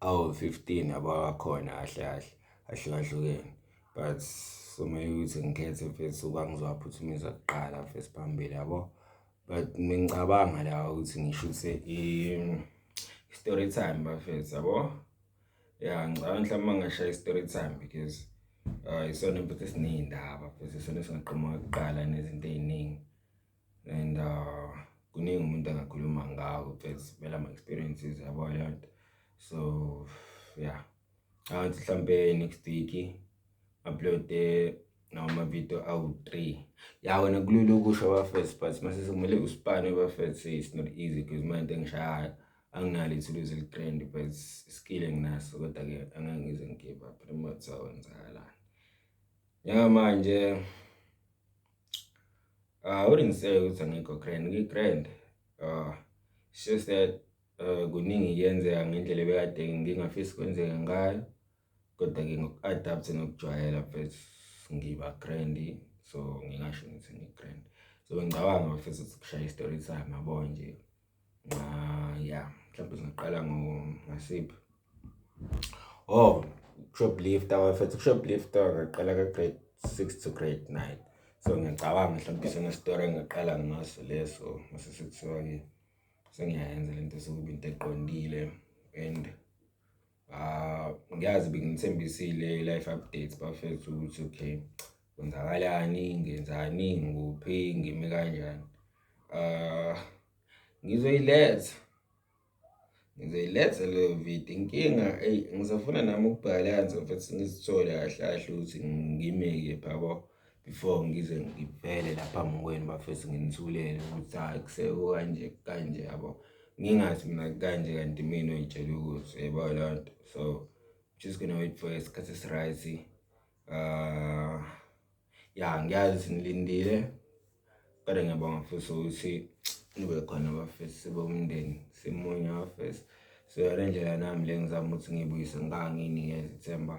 awu-15 abawakhona kahle kahle ahlukahlukene but somele ukuthi ngikhethe mfethu ukuba ngizowaphuthumisa kuqala mfethu phambili yabo but ngicabanga la ukuthi ngishuthe i-story time bafethu yabo ya ngicabanga mhlawumbe uma ngashaya i-story time because uh, isona mfethu esiney'ndaba mfethu isona esingaqoma kuqala nezinto ey'ningi and uh, kuningi umuntu angakhuluma ngako because vele ama-experiences yabo leyo nto so yeah angithi mhlampe next week uploade noma amavidiyo awu-three ya wena kulula ukusho abafes but mase sekumele usipane abafes it's not easy because uma into engishayayo anginalo ithuluzi eligrand but iskill enginaso kodwa-ke angeke ngize ngigive up remote sawenzakalani njengamanje Uh, I wouldn't say ukuthi angikho grand, ngi-grand. Uh, it's just that uh, kuningi kuyenzeka ngendlela ebekade ngingafisi kwenzeka ngayo kodwa-ke ngoku-adaptha nokujwayela mfethu ngiba grand so ngingasho ngithi ngi-grand so ngicabanga mfethu ukuthi kushaya i-story time yabo nje Ah yeah, mhlawumbe singaqala ngo ngasiphi? Oh, shoplifter wafethu shoplifter ngaqala ka grade 6 to grade 9. So ngiyacabanga mhlawumbe sona story engaqala ngaso leso mase sekuthiwa ke sengiyayenza lento sokuba into eqondile and Ah ngiyazi benginithembisile i-life updates bafethu ukuthi okay kwenzakalani, ngenzani, ngikuphi, ngime kanjani. Ah ngizoyiletha, ngizoyiletha leyo video. Inkinga eyi ngisafuna nami ukubhalansa futhi ngizithole kahle kahle ukuthi ngimeke pha yabo. before ngize ngivele lapha ngokwenu bafethu nginithulele ukuthi hhayi kuseko kanje kanje yabo ngingazi mina kanje kanti mina oyitshela ukuthi yebo loo nto so just gonna wait for isikhathi esiright um ya ngiyazi nilindile Kodwa ngiyabonga futhi ukuthi nibe khona bafesi sibe umndeni simunye bafesi so yona ndlela nami le ngizama ukuthi ngibuyise nganginikeza ithemba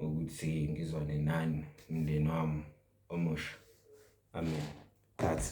ukuthi ngizwane nani umndeni wami omusha amen that's